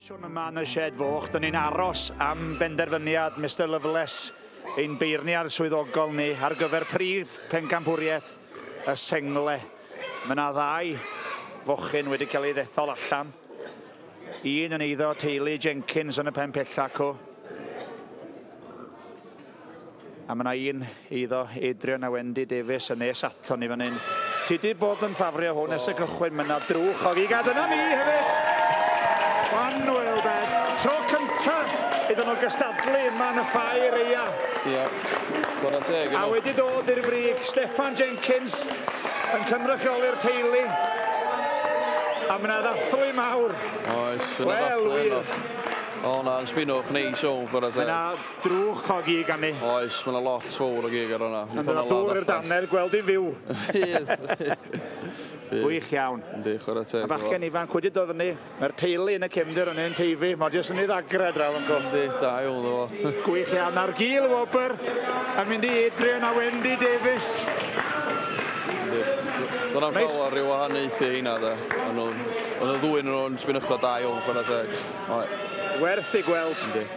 Siwn yma yn y sied foch, dyn ni'n aros am benderfyniad Mister Loveless, ein beirniad swyddogol ni, ar gyfer prif pencampwriaeth y sengle. Mae yna ddau fochyn wedi cael ei ddethol allan. Un yn eiddo teulu Jenkins yn y pen pellacw. A mae 'na un eiddo, Adrian a Wendy Davies, yn nes aton ni fan hyn. Ti di bod yn ffafrio hwn ers y cychwyn, mae 'na drwch o gigad yna ni hefyd! One well bed. Tro cynta iddyn nhw gystadlu yma yn y ffair eia. Ia, bod yn teg. A wedi dod i'r frig, Steffan Jenkins yn cynrychioli'r teulu. A mae 'na ddathlu mawr. Oes, mae 'na ddathlu yno. O na, yn sbinwch neis o, bod yn teg. Drwch o gig arni. Oes, mae 'na lot fowr o gig ar honna. Yn dod â dŵr i'r dannedd, gweld hi'n fyw! Fydd! Gwych iawn. Yndi, chwarae teg. Y bachgen ifanc wedi dod fyny. Mae'r teulu yn y cefndir yn ein teifi. Mae jyst yn ei ddagrau draw yn gwrdd. Yndi, da iawn iddo fo. Gwych iawn. Nawr Gil Wobr yn mynd i Adrian a Wendy Davies. Yndi. Do'n am Neis. llawer rhyw wahaniaethu heina de. O'n nhw'n... O'n y ddwy yn nhw'n sbinychod da iawn, chwarae teg. Oe. Werth ei gweld. Yndi.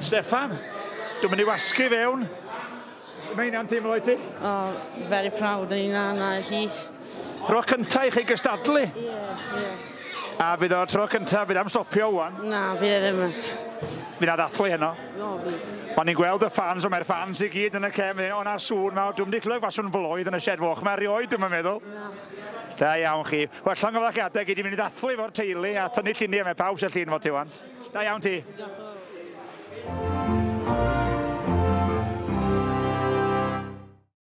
Steffan, dwi'n mynd i wasgu fewn. Mae hynna'n teimlo i ti? Oh, very proud yn hynna na hi. Tro cynta i chi gystadlu? Ie, yeah, ie. Yeah. A fydd o tro cynta, fydd am stopio wan? Na, fydd e ddim. Fydd na ddathlu heno? No, fydd. O'n i'n gweld y ffans, ond mae'r ffans i gyd yn y cefn, o'na sŵn mawr, dwi'n wedi clywed faswn flwydd yn y shed foch, mae erioed dwi'n meddwl. Na. Da iawn chi. Wel, llongyfarchiadau gei di mynd i ddathlu fo'r teulu a tynnu lluniau, mae pawb sy'n llun fo ti wan. Da iawn ti. Diolch.